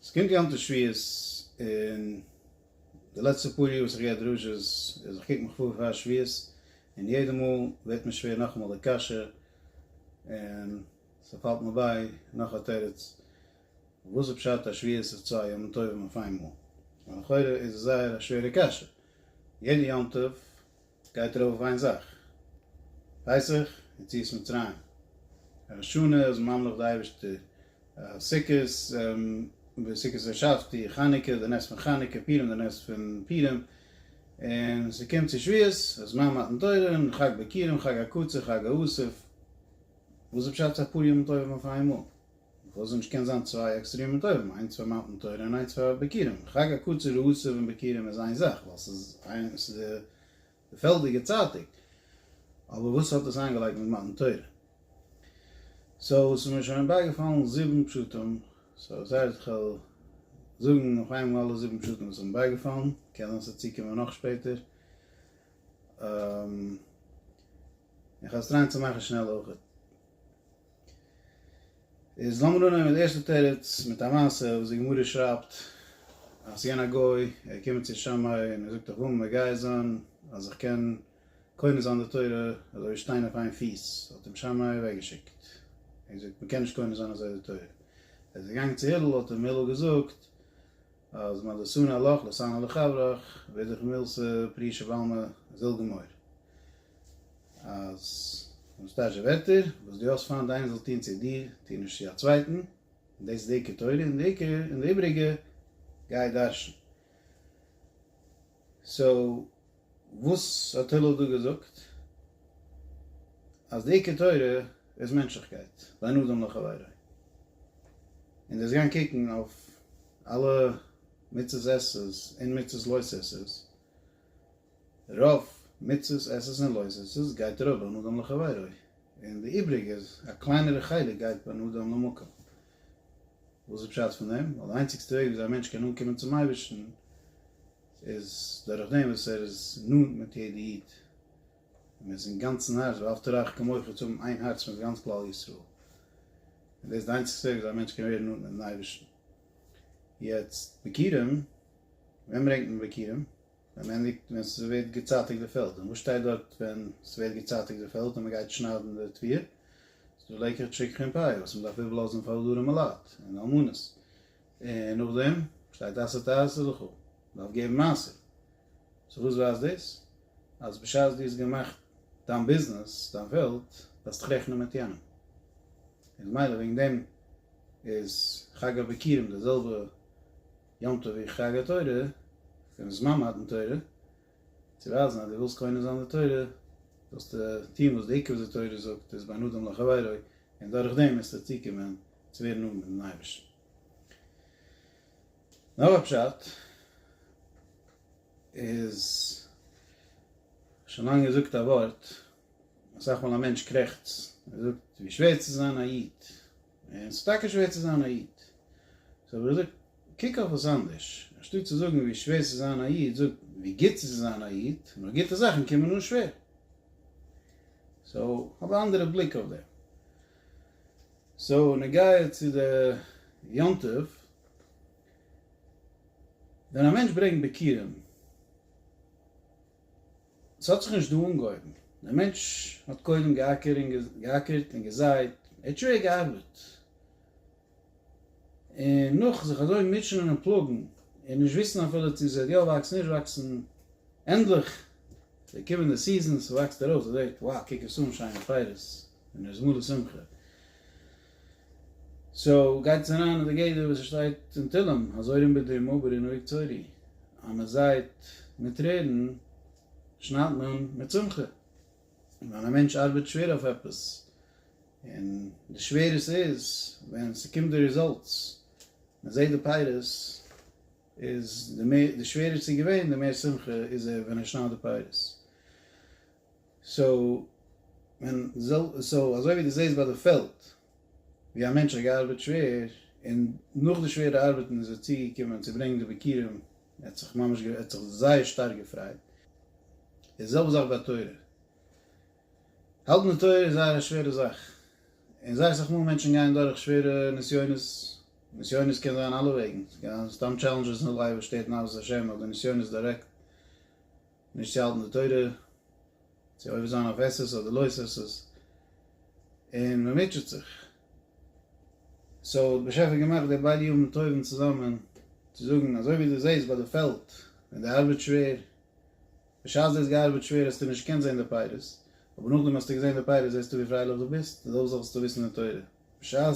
עס קומט יום טוב שביעית און די לעצטע פאר יאר וואס איך גיי א דרשה איז איך קוק מיך פאר פאר שביעית און יעדע מאל ווערט מיר שווער נאכאמאל די קשיא און ס'פאלט מיר ביי נאך א תירוץ וואס איז פשט אז שביעית איז צוויי ימים טובים אויף איינמאל? לכאורה איז עס זייער א שווערע קשיא יעדע יום טוב גייט ער אויף איין זאך ווייס איך, יציאת מצרים, ראש השנה איז מען ממליך די אייבערשטער, סוכות, סוכות השבתי, חנוכה די נס פון חנוכה, פורים די נס פון פורים, און ס'קומט צו שבועות אז מע מתן תורה און חג בקירים חג הקצה חג האוסף, וואס איז פשט צו אפאר ימים טובים אויף איינמאל? וואס זאל נישט קענען זיין צוויי עקסטרעמע טובים, איינס פאר מתן תורה און איינס פאר בקירים, חג הקצר ועשו און בקירים איז איין זאך, ווייל ס'איז איין ס'איז די פעלדיגע צייטוג, אבער וואס האט דאס איינגעלייגט מיט מתן תורה? סאו ס'איז מיר שוין בייגעפאלן זיבן פשטים, סאו וואס הייסט כ'וועל זאגן אויף איינמאל אלע זיבן פשטים וואס איז מיר בייגעפאלן, קען זיין ס'וועט צוקומען נאך שפעטער, און כ'וועל עס טרייען צו מאכן שנעל אויכעט. איז לאמיר אנהייבן מיט די ערשטע תירוץ, מיט א מעשה וואס די גמרא שרייבט, אז יענער גוי, ער קומט צו שמאי און ער זאגט אויף וומ ע גייער זיין, אז איך קען קונה זיין די תורה אזוי ווי שטיין אויף איין פיס, האט אים שמאי אוועק געשיקט, און געזאגט, מען קען נישט קונה זיין אזוי די תורה. ער איז געגאנגען צו הילל, האט אים הילל געזאגט, אז מה לשנא לך לשנא לחברך, ווער זיך מילתא פרי שבעלמא זל גמור. אז אנשטאטש די ווערטער וואס דו האסט פיינט איינער זאל טון צו דיר, טו נישט צו א צווייטן, און דאס איז די עיקר תורה, און די עיקר און די איבריגע גיי דרשן. סאו וואס האט הלל דא געזאגט? אז די עיקר תורה איז מענטשליכקייט, ואין אדם לחבירו. און דאס גיין קוקן אויף אלע מצות עסס און מצות לויס עסס, רוב מצות עסס און לויס עסס גייט אראפ בין אדם לחבירו, און די איבריגע, א קליינערע חלק גייט בין אדם למקום. וואס איז פשט פון דעם? ווייל די איינציגסטע וועג וויאזוי א מענטש קען אנקומען צום אייבערשטן איז דורך דעם וואס ער איז נאנט מיט יעדע איד, און מען איז אינגאנצן הארץ, ואהבת לרעך כמוך, צו האבן איין הארץ מיט גאנץ כלל ישראל, און דאס איז די איינציגסטע וועג וויאזוי א מענטש קען ווערן נאנט מיט'ן אייבערשטן. יעצט, ביכורים, ווען ברענגט מען ביכורים? ווען מען ענדיגט ווען ס'ווערט געצייטיגט די פעלד, און וואס שטייט דארט ווען ס'ווערט געצייטיגט די פעלד און מ'גייט שניידן די טביר? ס'דא לעיקרידזש שכח און פאיע וואס מ'דארף איבערלאזן פאר אדרים אלעט און אלמנות, און נאכדעם שטייט עשה תעשה וכו', מ'דארף געבן מעשר, סאו וואס ווייזט דאס? אז בשעת דו האסט געמאכט דיין ביזנעס, דיין פעלד, דארפסטו דיך רעכענען מיט יענעם, איז מילא וועגן דעם איז חג הביכורים די זעלבע יום טוב איך טראג א תורה פון זמן מתן תורה צו ווייזן אז דו ווילסט קונה זיין די תורה זאלסטו טון וואס די עיקר וואס די תורה זאגט איז בין אדם לחבירו און דורך דעם וועסטו צוקומען צו ווערן נאנט מיט'ן אייבערשטן. נאך א פשט איז שוין לאנג געזאגט א ווארט אסאך מאל א מענטש קרעכצט און זאגט ווי שווער צו זיין א איד. און ס'איז טאקע שווער צו זיין א איד. סאו ווער עס זאגט קוק אויף עס אנדערש, אנשטאט צו זאגן ווי שווער ס'איז זיין א איד, זאג ווי גוט ס'איז צו זיין א איד, נאר גוטע זאכן קומען נאך שווער. סאו האב א אנדערע בליק אויף דעם. סאו נוגע צו די יום טוב, ווען א מענטש ברענגט ביכורים, ס'האט זיך נישט דא אנגעהויבן. דער מענטש האט קודם געאקערט און געזייט, ער האט שווער געארבעט, און נאך זיך אזוי מוטשענען און פלאגן, און נישט וויסן אפילו צו ס'וועט יא וואקסן נישט וואקסן, ענדליך זענען געקומען די סיזענס, ס'וואקסט ארויס, ער זעט, wow, קוק עס אן, שיינע פייערס, און ער איז מלא שמחה. סאו גייט עס אריין אין די גדר וואס עס שטייט אין תהלים, הזורין בדמעה ברי נוהג צורי, אז מען זייט מיט טרערן שניידט מען מיט שמחה, און ווען א מענטש ארבעט שווער אויף עפעס, און די שווער עס איז, ווען ס'קומט די ריזאלטס, מען זעט די פירות, איז די מער די שווערער ס'איז געווען די מער שמחה איז ער ווען ער שניידט די פירות. סאו מען זאל סאו אזוי ווי די זעסט ביי די פעלד ווי א מענטש האט געארבעט שווער און נאך די שווערע ארבעטן איז ער צוגעקומען צו ברענגן די ביכורים ער האט זיך ממש ער האט זיך זייער שטארק געפרייט איז די זעלבע זאך ביי תורה האלטן די תורה איז זייער א שווערע זאך און זייער אסאך מאל מענטשן גייען דורך שווערע נסיונות נסיונות קען זיין אלע וועגן ס'קען זיין סתם טשעלענדזשעס אין די לייף וואס שטערט נאוות השם אדער נסיונות דירעקט. נישט צו האלטן די תורה, צו עובר זיין אויף עשה'ס אדער לא עשה'ס, און מען מוטשעט זיך. סאו האט באשעפער געמאכט די בעלי יום טובים צוזאמען צו זאגן, אזוי ווי דו זעסט ביי די פעלד ווען די ארבעט שווער, בשעת דו האסט געארבעט שווער האסטו נישט געקענט זען די פירות, אבער נאכדעם האסטו געזען די פירות זעסטו ווי פרייליך דו ביסט, אזוי אויך זאלסטו וויסן די תורה, בשעת.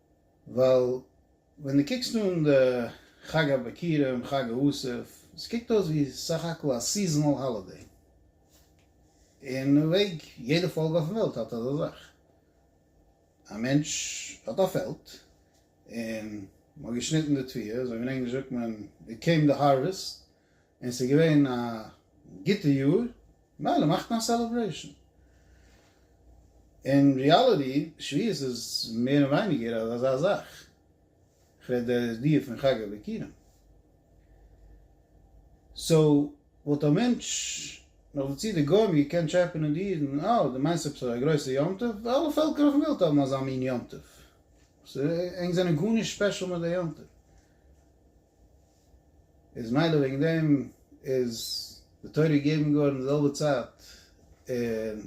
ווייל ווען דו קוקסט אן די חג הביכורים, חג האסף, עס קוקט אויס ווי סך הכל א סיזענאל האלידעי. אין א וועג, יעדע פאלק אויפן וועלט האט אזא זאך. א מענטש האט א פעלד, און מען האט געשניטן די תביעה, אזוי ווי אין ענגליש זאגט מען, און קעם די הארוועסט. און ס'איז געווען א גוטע יאר, מילא מאכט מען א סעלעברעישן. אין ריאליטי, שביעות איז מער און ווייניגער אזא זאך. כ'רעד דער דיעה פון חג הביכורים. סאו, וואלט א מענטש נאך דערצו די גוים געקענט טשעפענען די אידן, אה, דו מיינסט עפעס א גרויסע יום טוב? אלע פעלקער אויפן וועלט האבן אזא מין יום טוב. ענק זענען גארנישט ספעשל מיט די יום טוב. איז מילא וועגן דעם איז די תורה געגעבן געווארן אין די זעלבע צייט און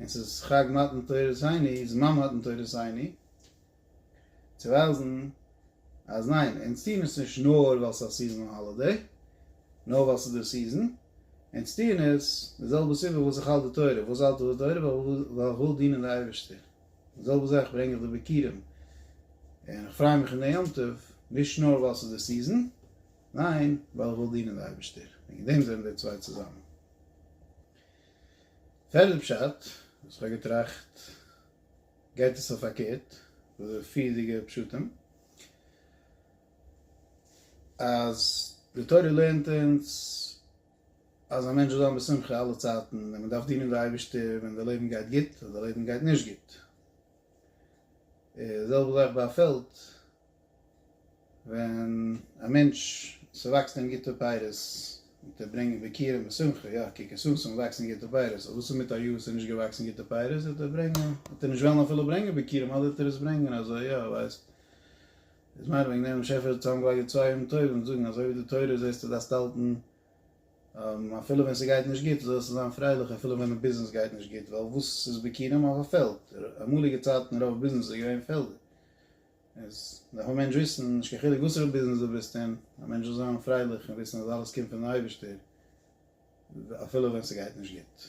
און ס'איז חג מתן תורה שני זמן מתן תורה שני צו ווייזן אז ניין אונז טוען עס נישט נאר ווייל ס'איז א סיזאנעל האלידעי נאר ווייל ס'איז די סיזאן אונז טוען עס די זעלבע סיבה וואס איך האלט די תורה וואס האלט איך די תורה ווייל איך וויל דינען די אייבערשטער. די זעלבע זאך ברענג איך די ביקירים, און איך פריי מיך אין די יום טוב, נישט נאר ווייל ס'איז די סיזען, ניין, ווייל איך וויל דינען די אייבערשטער, וועגן דעם זענען די צוויי צוזאמען. פערדע פשט וואס כ'האב געטראכט, גייט עס אויף פארקערט וואס די פריערדיגע פשטים, אז די תורה לערנט אונז, אז א מענטש זאל זיין בשמחה אלע צייטן, און מען דארף דינען די אייבערשטער ווען די לעבן גייט גוט, און די לעבן גייט נישט גוט. איז זעלבע זאך ביי א פעלד, ווען א מענטש, ס'וואקסט אים גוטע פירות, וועט ער ברענגען ביכורים בשמחה, יא, קוק עס אן, ס'איז געוואקסן גוטע פירות, אבער וואס איז מיט א יאר ס'איז נישט געוואקסן גוטע פירות, וועט ער ברענגען, וועט ער נישט וועלן אפילו ברענגען ביכורים, אדער וועט ער עס ברענגען אזוי, יא, ווייסט. איז מיין וועגן דעם שעפער האט צוזאמגעלייגט די צוויי ימים טובים און זאגן אזוי ווי די תורה זעסט די דארפסט האלטן אפילו ווען ס'גייט נישט גוט זאלסטו זיין פרייליך אפילו ווען די ביזנעס גייט נישט גוט ווייל וואס איז בעיקרם אויף א פעלד אמאליגע צייטן רוב ביזנעס איז געווען פעלדער איז דארף א מענטש וויסן נישט קיין חילוק וואסערע ביזנעס די ביסט אין א מענטש זאל זיין פרייליך און וויסן אז אלעס קומט פון די אייבערשטער אפילו ווען ס'גייט נישט גוט.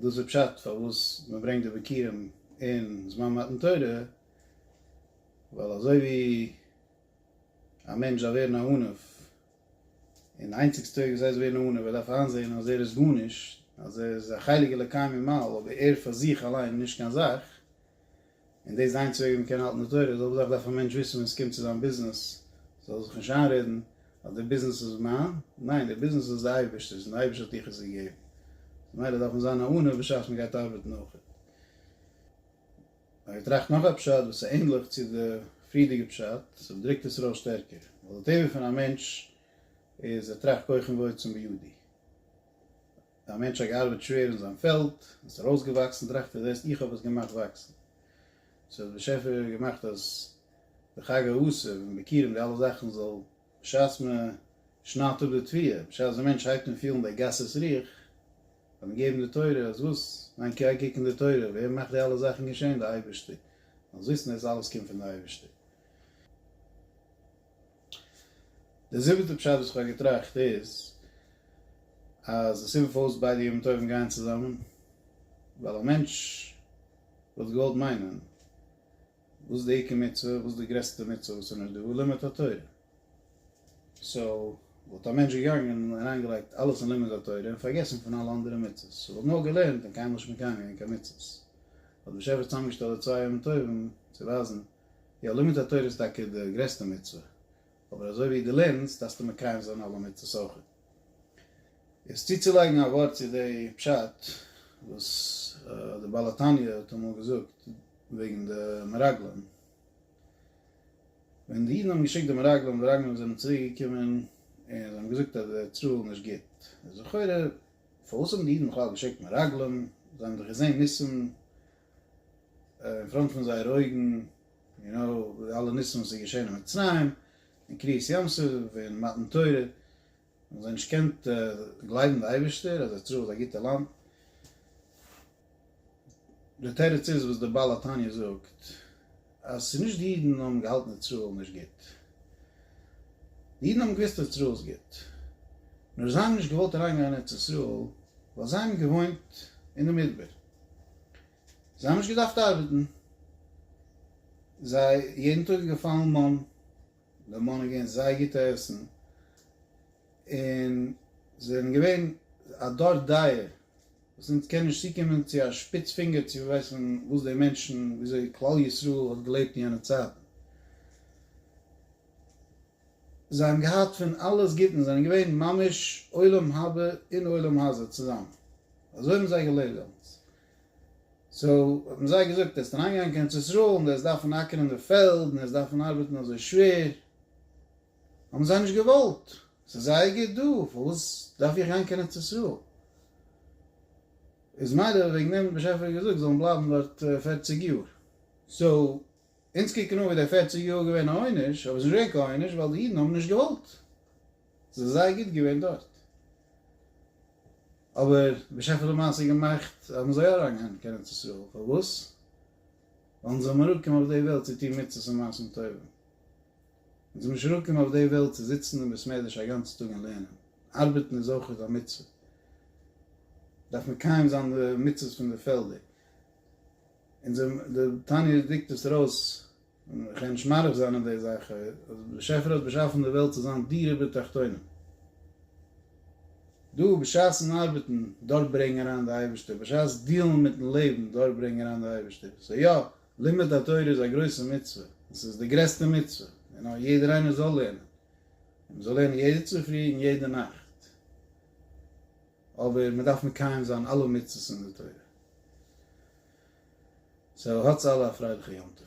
דאס איז פשט פארוואס מען ברענגט די ביכורים אין זמן מתן תורה, ווייל אזוי ווי א מענטש דארף ווערן א עניו, און די איינציגסטע וועג וויאזוי צו ווערן א עניו, ער דארף איינזען אז ער איז גארנישט, אז ער איז א חלק אלוקי ממעל, אבער ער פאר זיך אליין איז נישט קיין זאך, און דאס זיין צוויי וועם קען האלטן די תורה זאל וואדאך דארף א מענטש וויסן ווען סקומט צו זיין ביזנעס זאל זיך נישט איינרעדן אז די ביזנעס איז מיין ניין די ביזנעס איז די אייבישטערס און די אייבישטער האט דיך עס געגעבן ממילא דארף מען זיין א עונה בשעת מען גייט ארבעטן אויכעט. כ'האב געטראכט נאך א פשט וואס איז ענדליך צו די פריערדיגע פשט ס'וועט דרוקט עס ארויס שטערקער ווייל די טבע פון א מענטש איז ער טראכט כח אין ועוצם בידי א מענטש האט געארבעט שווער אין זיין פעלד, עס איז ארויסגעוואקסן, טראכט ער זעסט איך האב עס געמאכט וואקסן. סאו האט באשעפער געמאכט אז די חג האסף און ביכורים די אלע זאכן זאל בשעת מען שניידט אפ די תביעה, בשעת די מענטש הייבט אן פילן די גסות רוח, זאל מען געבן די תורה, אז וואס? ניין גיי קוק אין די תורה, ווער מאכט די אלע זאכן געשען? די אייבערשטער. זאלסט וויסן דאס אלעס קומט פון די אייבערשטער. די זיבעטע פשט וואס כ'האב געטראכט איז אז די סיבה פארוואס ביידע ימים טובים גייען צוזאמען ווייל א מענטש וואלט געוואלט מיינען וואס די עיקר מצוה וואס די גרעסטע מצוה וואס איז נאר דא לימוד התורה סאו וואלט א מענטש געגאנגען און אריינגעלייגט אלעס אין לימוד התורה און פארגעסן פון אלע אנדערע מצוות ער וואלט נאר געלערנט און קיינמאל נישט מקיים געווען קיין מצוות האט דער באשעפער צוזאמגעשטעלט די צוויי ימים טובים צו ווייזן יא, לימוד התורה איז טאקע די גרעסטע מצוה, אבער אזוי ווי דו לערנסט דארפסטו מקיים זיין אלע מצוות אויך. יעצט צוצולייגן א ווארט צו די פשט וואס די בעל התניא האט אמאל געזאגט וועגן די מרגלים, ווען די אידן האבן געשיקט די מרגלים, די מרגלים זענען צוריק געקומען און זיי האבן געזאגט אז די צרה איז נישט גוט, איז לכאורה פארוואס האבן די אידן בכלל געשיקט מרגלים, זיי האבן דאך געזען ניסים, אין פראנט פון זייערע אויגן, יו נאו, די אלע ניסים וואס איז געשען אין מצרים, אין קריעת ים סוף, אין מתן תורה, האבן זיי נישט געקענט גלייבן די אייבערשטער אז ארץ ישראל איז א גוטע לאנד, די תירוץ איז וואס די בעל התניא זאגט, אז ס'איז נישט די אידן האבן געהאלטן ארץ ישראל נישט גוט, די אידן האבן געוואוסט ארץ ישראל איז גוט, נאר זיי האבן נישט געוואלט אריינגיין אין ארץ ישראל, ווייל זיי האבן געוואוינט אין די מדבר. זיי האבן נישט געדארפט ארבעטן, זיי יעדן טאג איז געפאלן מאן, די מאן איז געווען זייער גוטע עסן, און זיי זענען געווען א דור דאיער, וואס אונז קען נישט צוקומען צו א שפיץ פינגער צו ווייסן וואס די מענטשן, ווי אזוי כלל ישראל האט געלעבט אין יענע צייטן. זיי האבן געהאט פון אלעס גוטן, זיי זענען געווען ממש עולם הבא און עולם הזה צוזאמען, אזוי האבן זיי געלעבט דעמאלטס, סאו האט מען זיי געזאגט ער איז אריינגעגאנגען קיין ארץ ישראל און דאס דארפן אקערן די פעלד און דאס דארפן ארבעטן אזוי שווער האבן זיי נישט געוואלט ס'איז זייער גוט דא פארוואס דארף איך גיין קיין ארץ ישראל איז מילא וועגן דעם האט דער באשעפער געזאגט זאלן בלייבן דארט פערציג יאר סאו אונז קוקן אן ווי די פערציג יאר איז געווען א עונש אבער עס איז נישט געווען קיין עונש ווייל די אידן האבן נישט געוואלט. זיך זייער גוט געווען דארט. אבער בשפע למעשה געמאכט האבן זיי אריין געהאנט קיין ארץ ישראל, פארוואס? ווייל זיי האבן אראפקום אויף די וועלט צו טון מצוות און מעשים טובים. אונז זעמיר נישט אראפקום אויף די וועלט צו זיצן אין בית מדרש א גאנצע טאג און לערנען. ארבעטן איז אויך א מצוה. דארף מקיים זיין די מצוות פון די פעלדער. אונז האבן די תניא דריקט עס ארויס. און איך הער נישט מאריך זיין אין די זאך, אז באשעפער האט באשאפן די וועלט צו זיין דירה בתחתונים. דא בשעת'ן ארבעטן דארט ברענג אריין די אייבערשטער, בשעת דיעלן מיטן לעבן דארט ברענג אריין די אייבערשטער. סאו יא, לימוד התורה איז א גרויסע מצוה, און ס'איז די גרעסטע מצוה, און אז יעדער איינער זאל לערנען, און מ'זאל לערנען יעדע צופרי און יעדע נאכט. אבער מ'דארף מקיים זיין אלע מצוות אין די תורה. סאו האטס אלע א פרייליכע יום טוב.